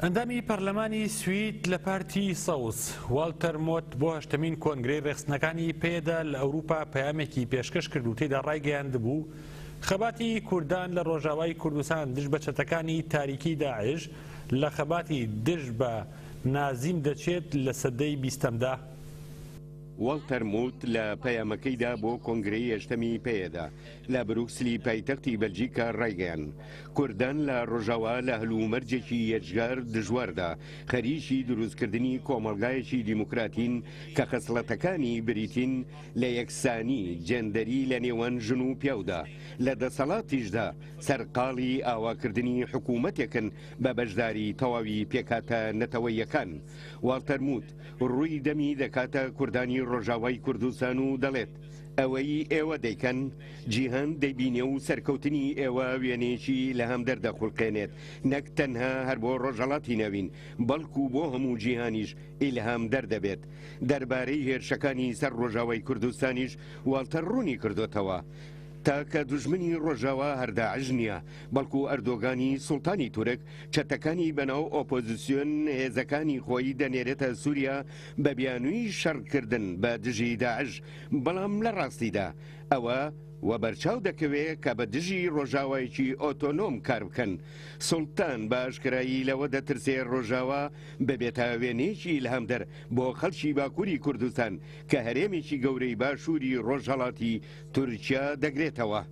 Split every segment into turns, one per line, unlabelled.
ئەندامی پەرلەمانی سوید لە پارتی سەوز، والتەر مۆت بۆ هەشتەمین کۆنگرەی ڕێکخستنەکانی پەیەدە لە ئەوروپا پەیامێکی پێشکەش کرد و تێدا ڕایگەیاندبوو، خەباتی کوردان لە ڕۆژاوای کوردستان دژ بە چەتەکانی تاریکی داعش لە خەباتی دژ بە نازیم دەچێت لە سەدەی بیستەمدا.
والتەر موت لە پەیامەکەیدا بۆ کۆنگرەی هەشتەمی پەیەدە، لە بروکسلی پایتەختی بەلجیکا ڕایگەیاند، کوردان لە ڕۆژاوا لە هەلومەرجێکی یەجگار دژواردا خەریکی دروستکردنی کۆمەڵگایەکی دیموکراتین کە خەسڵەتەکانی بریتین لە یەکسانی جێندەری لە نێوان ژن و پیاودا، لە دەسەڵاتیشدا سەرقاڵی ئاواکردنی حکوومەتێکن بە بەشداری تەواوی پێکهاتە نەتەوەییەکان. واڵتەر موت ڕووی دەمی دەکاتە کوردانی ڕۆژاوای کوردستان و دەڵێت، ئەوەی ئێوە دەیکەن جیهان دەیبینێ و سەرکەوتنی ئێوە وێنێکی لە هەم دەردەخولقێنێت نەک تەنها هەر بۆ ڕۆژەڵاتی نەوین بەڵکو بۆ هەموو جیهانیش ئیلهام دەر دەبێت دەربارەی هێرشەکانی سەر ڕۆژاوای کوردستانیش واڵتەر ڕوونی کردۆتەوە تاکە دوژمنی ڕۆژاوا هەر داعش نیە بەڵکو ئەردۆگانی سوڵتانی تورک چەتەکانی بەناو ئۆپۆزسیۆن هێزەکانی خۆی دەنێرێتە سوریا بە بیانووی شەڕکردن بە دژی داعش، بەڵام لە ڕاستیدا ئەوە وەبەرچاو دەکەوێ کە بە دژی ڕۆژاوایەکی ئۆتۆنۆم کار بکەن. سوڵتان بە ئاشکرایی لەوە دەترسێ ڕۆژاوا ببێتە وێنەیەکی ئیلهامدەر بۆ خەڵکی باکووری کوردستان کە هەرێمێکی گەورەی باشووری ڕۆژهەڵاتی تورکیا دەگرێتەوە.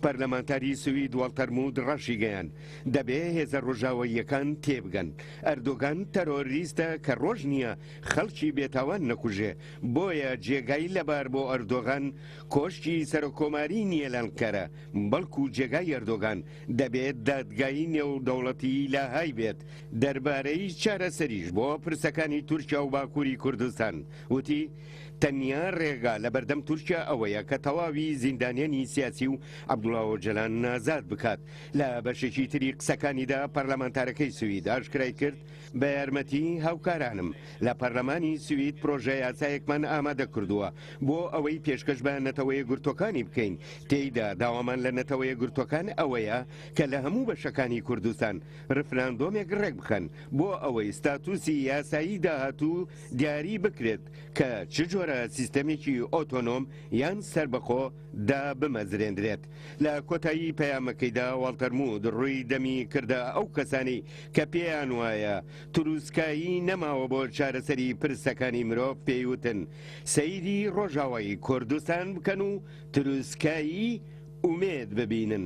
پەرلەمانتاری سوید وەڵتەر مود ڕاشیگەیاند، دەبێ هێزە ڕۆژاواییەکان تێبگەن، ئەردۆگان تەرۆریستە کە ڕۆژ نییە خەڵکی بێتاوان نەکوژێ، بۆیە جێگای لەبار بۆ ئەردۆغان کۆشکی سەرۆککۆماری نییە لە ئەنقەرە، بەڵکو جێگای ئەردۆگان دەبێ دادگای نێودەوڵەتیی لاهای بێت. دەربارەی چارەسەریش بۆ پرسەکانی تورکیا و باکووری کوردستان وتی، تەنیا رێگا لەبەردەم تورکیا ئەوەیە کە تەواوی زیندانیانی سیاسی و عەبدوڵا ئۆجەلان ئازاد بکات. لە بەشێکی تری قسەکانیدا پەرلەمانتارەکەی سوید ئاشکرای کرد، بە یارمەتی هاوکارانم لە پەرلەمانی سوید پرۆژە یاسایەکمان ئامادە کردووە بۆ ئەوەی پێشکەش بە نەتەوە یەکگرتووەکانی بکەین، تێیدا داوامان لە نەتەوە یەکگرتووەکان ئەوەیە کە لە هەموو بەشەکانی کوردستان رفراندۆمێک رێکبخەن بۆ ئەوەی ستاتوسی یاسایی داهاتوو دیاری بکرێت کە چ جۆرە سیستەمێکی ئۆتۆنۆم یان سەربەخۆ دابمەزرێندرێت. لە کۆتایی پەیامەکەیدا واڵتەر موود ڕووی دەمی کردە ئەو کەسانەی کە پێیان وایە تروسکایی نەماوە بۆ چارەسەری پرسەکانی مرۆڤ پێی وتن سەیری ڕۆژاوای کوردستان بکەن و تروسکایی ئومێد ببینن.